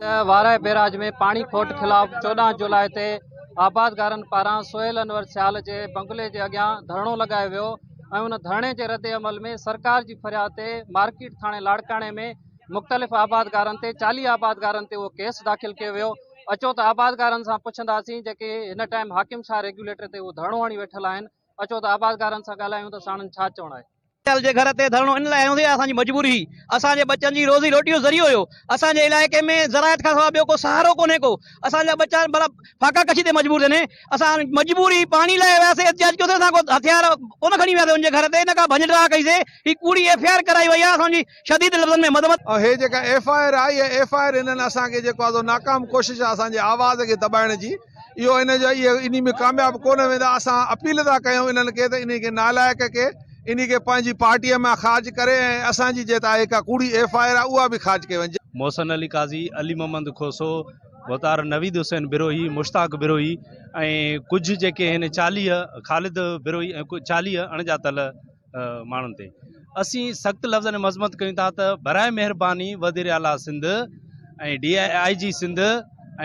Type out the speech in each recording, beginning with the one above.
وارائي barrage ۾ پاڻي کوٽ خلاف چوڏهن جولاء تي آبادگارن پاران سهيل انور سيال جي بنگلي جي اڳيان ڌرڻو لڳايو ويو ۽ ان ڌرڻي جي ردعمل ۾ سرڪار جي فرياد تي مارڪيٽ ٿاڻي لاڙڪاڻي ۾ مختلف آبادگارن تي چاليهه آبادگارن تي اهو ڪيس داخل ڪيو ويو اچو ته آبادگارن سان پڇنداسين جيڪي هن ٽائيم حاڪم شاهه ريگيوليٽر تي اهو ڌرڻو هڻي ويٺل آهن اچو ته آبادگارن سان ڳالهايون ته ساڻن ڇا چوڻ آهي. پٽيل جي گهر تي ڌرڻو ان لاء هنيو ويو آهي، اسان جي مجبوري هئي، اسان جي ٻچن جي روزي روٽي جو ذريعو هيو، اسان جي علائقي ۾ زراعت کان سواء ٻيو ڪو سهارو ڪونهي ڪو، اسان جا ٻچا ڀلا فاقا ڪشي تي مجبور ٿين، اسان مجبوري پاڻي لاء وياسي، احتجاج ڪيوسي، اسان ڪو هٿيار ڪونه کڻي وياسي ان جي گهر تي نه ڪا ڀڃ ڊاهه ڪئي سي، هي ڪوڙي ايف آء آر ڪرائي وئي آهي، اسان جي شديد لفظن ۾ مذمت. ۽ هي جيڪا ايف آء آر آهي اها ايف آء آر هنن اسان کي جيڪو آهي سو ناڪام ڪوشش آهي اسان جي آواز کي دٻائڻ جي. اهو ان جو اهي انهي ۾ ڪامياب ڪونه ويندا اسان اپيل ٿا ڪيون انهن کي ته انهي کي نالائق کي انهي کي پنهنجي پارٽي مان خارج ڪري ۽ اسان جي جيتا هي ڪا ڪوڙي ايف آء آر آهي اها به خارج ڪئي وڃجي. محسن علي قاضي، علي محمد کوسو، وتار نويد حسين بروهي، مشتاق بروهي ۽ ڪجهه جيڪي هن چاليهه خالد بروهي ۽ ڪجهه چاليهه اڻڄاتل، ماڻهن تي اسين سخت لفظن ۾ مذمت ڪيون ٿا ته برائي مهرباني وزير اعليٰ Sindh ۽ D I G Sindh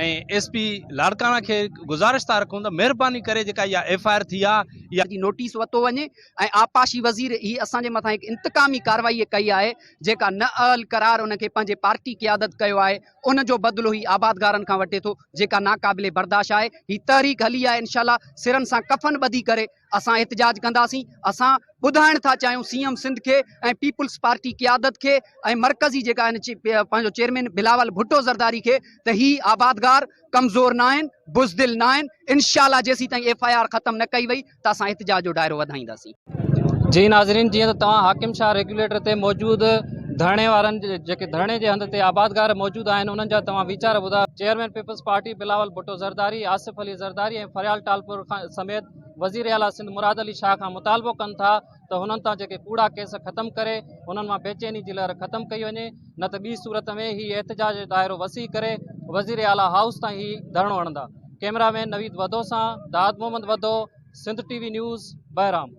۽ S P Larkana کي گزارش ٿا رکون ته مهرباني ڪري جيڪا اها ايف آء آر ٿي آهي اها جي نوٽيس وتو وڃي ۽ آبپاشي وزير هي اسان جي مٿان هڪ انتقامي ڪارروائي ڪئي آهي جيڪا نه اهل قرار ان کي پنهنجي پارٽي قيادت ڪيو آهي ان جو بدلو هي آبادگارن کان وٺي ٿو جيڪا ناقابل برداشت آهي هي تحريڪ هلي آهي انشاء الله سرن سان ڪفن ٻڌي ڪري اسان احتجاج ڪنداسين، اسان ٻڌائڻ ٿا چاهيون سي ايم سنڌ کي ۽ پيپلز پارٽي قيادت کي ۽ مرڪزي جيڪا آهن پنهنجو چيئرمين بلاول ڀٽو زرداري کي ته هي آبادگار ڪمزور ناهن، بزدل ناهن، انشاءالله جيسيتائين ايف آء آر ختم نه ڪئي وئي ته اسان احتجاج جو دائرو وڌائينداسين. جي ناظرين جيئن ته توهان حاڪم شاهه ريگيوليٽر تي موجود ڌرڻي وارن جيڪي ڌرڻي جي هنڌ تي آبادگار موجود آهن انهن جا توهان ويچار ٻڌايو. Chairman People's Party Bilawal Bhutto Zardari, Asif Ali Zardari ۽ Faryal Talpur سميت وزير اعليٰ سنڌ مراد علي شاهه کان مطالبو ڪن ٿا ته هنن تان جيڪي ڪوڙا ڪيس ختم ڪري هنن مان بيچيني جي لهر ختم ڪئي وڃي نه ته ٻي صورت ۾ هي احتجاج جو دائرو وسيع ڪري وزير اعليٰ هائوس تان هي ڌرڻو هڻندا ڪئميرا مين نويد وڌو سان داد Muhammad Wadho Sindh T V news Bahram